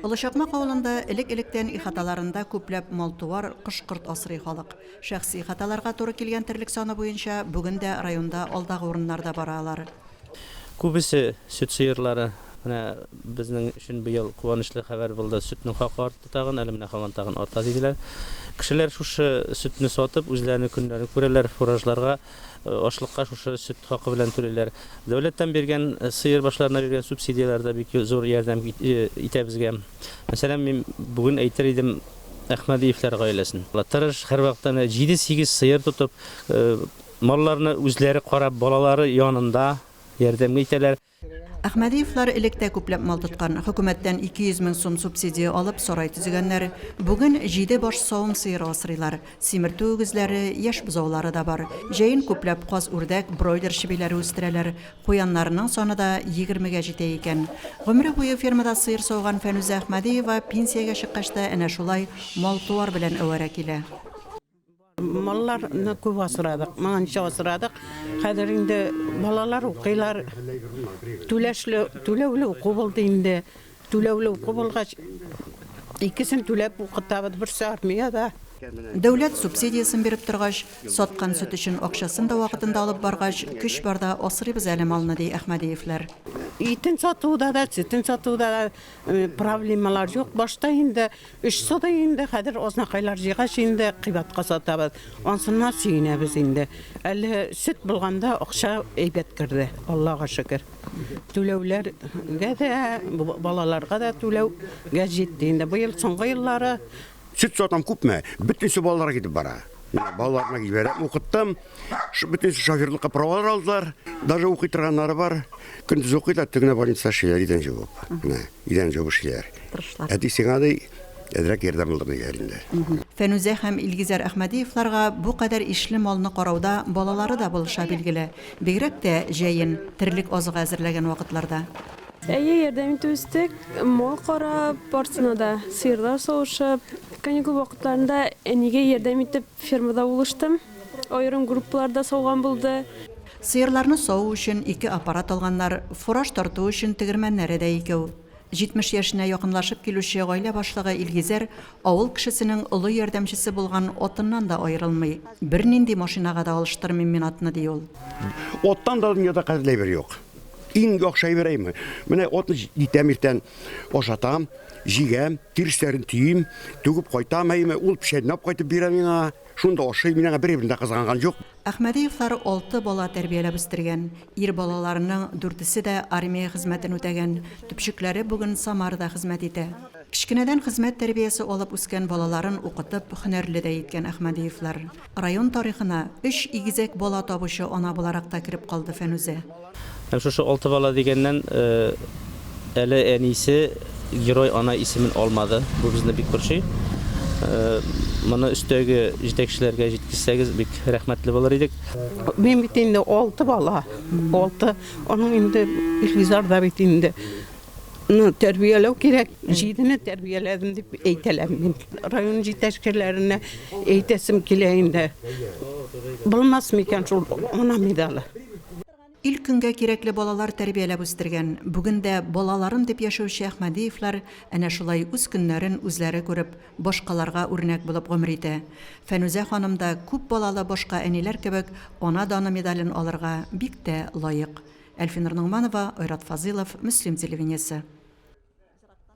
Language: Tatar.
Олы Чакмак авылында элек-электән ихаталарында күпләп мал-туар, кош-корт асрый халык. Шәхси ихаталарга туры килгән терлек саны буенча бүген дә районда алдагы урыннарда бара алар. Күбесе сөт сыерлары. Менә безнең өчен быел куанычлы хәбәр булды, сөтнең хакы артты тагын, әле менә һаман тагын арта, диделәр. Кешеләр шушы сөтне сатып, үзләренең көннәрен күрәләр, фуражларга Ашлыкка шушы сөт хакы белән түлиләр. Дәүләттән биргән, сыер башларына биргән субсидияләр дә бик зур ярдәм итә безгә. Мәсәлән, мин бүген әйтер идем Әхмәдиевләр гаиләсен. Алар тырыш, һәрвакыт әнә җиде-сигез сыер тотып, малларны үзләре карап, балалары янында ярдәм итәләр. Әхмәдиевлар элек тә күпләп мал тоткан, хөкүмәттән 200 мең сум субсидия алып, сарай төзегәннәр. Бүген җиде баш савым сыеры асрыйлар. Симертү үгезләре, яшь бозаулары да бар. Җәен күпләп каз-үрдәк, бройлер чебиләре үстерәләр. Куяннарының саны да егермегә җитә икән. Гомере буе фермада сыер сауган Фәнүзә Әхмәдиева пенсиягә чыккач та әнә шулай мал-туар белән әвәрә килә. Малларны күп асрадык, моңа ничә асрадык. Хәзер инде балалар укыйлар. Түләшле, түләүле уку булды инде. Түләүле уку булгач, икесен түләп укытабыз, берсе армиядә. Дәүләт субсидиясен биреп торгач, саткан сөт өчен акчасын да вакытында алып баргач, көч барда асрыйбыз әле малны, ди Әхмәдиевләр. Итен сатуда да, сөтен сатуда да проблемалар юк. Башта инде Өч сотый инде, хәзер азнакайлар җыйгач инде кыйбатка сатабыз. Ансыннан сөенәбез инде. Әле сөт булганда акча әйбәт керде, Аллага шөкер. Түләүләргә дә, балаларга да түләүгә җитте инде. Быел соңгы еллары. Сөт сатам күпме, бөтенесе балаларга китеп бара. Менә балаларны җибәрәм, укыттым. Бөтен шоферлыкка правалар алдылар. Даже укый торганнары бар. Көндез укый да төнлә больница эшлиләр идән җуып. Менә идән җуып эшлиләр. Тырышлар. Әти сиңа ди әзрәк ярдәм булыр диләр инде. Фәнүзә һәм Илгизәр Әхмәдиевларга бу кадәр ишле малны карауда балалары да булыша билгеле. Бигрәк тә җәен, терлек азыгы әзерләгән вакытларда. Әйе, ярдәм итеп үстек. Мал карап, барсына да сыерлар савышып. Каникул вакытларында әнигә ярдәм итеп, Фермада булыштым. Аерым группалар да сауган булды. Сыерларны саву өчен ике аппарат алганнар, фураж тарту өчен тегермәннәре дә икәү. 70 яшенә якынлашып килүче гаилә башлыгы Илгизәр авыл кешесенең олы ярдәмчесе булган атыннан да аерылмый. Бернинди машинага да алыштырмыйм мин атны, ди ул. Аттан да дөньяда кадерле әйбер юк. Иң яхшы әйбер әйме. Менә атны җитәм иртән, ашатам. Җигәм, тиресләрен төйим, түгеп кайтам, әйеме, ул чәйнәп кайтып бирә миңа. Шунда ашыйм, мин аңа береберен дә кызганган юк. Әхмәдиевлар алты бала тәрбияләп үстергән. Ир балаларының дүртесе дә армия хезмәтен үтәгән, төпчекләре бүген Самарада хезмәт итә. Кечкенәдән хезмәт тәрбиясе алып үскән балаларын укытып, һөнәрле дә иткән Әхмәдиевлар. Район тарихына өч игезәк бала табучы ана буларак та кереп калды Фәнүзә. Һәм шушы алты бала дигәннән, әле әнисе Герой ана исемен алмады. Бу безне бик борчый. Моны өстәге җитәкчеләргә җиткезсәгез, бик рәхмәтле булыр идек. Мин бит инде алты бала, алты. Аның инде Илгизар да бит инде Ну, тәрбияләү кирәк. Җидене тәрбияләдем дип әйтәләр мин. Район җитәкчеләренә әйтәсем килә инде. Булмас микән шул ана медалы? Ил көнгә кирәкле балалар тәрбияләп үстергән, бүген дә балаларым дип яшәүче Әхмәдиевлар әнә шулай үз көннәрен үзләре күреп, башкаларга үрнәк булып гомер итә. Фәнүзә ханым да күп балалы башка әниләр кебек Ана даны медален алырга бик тә лаек. Әлфинур Ногманова, Айрат Фазыйлов, Мөслим телевидениесе.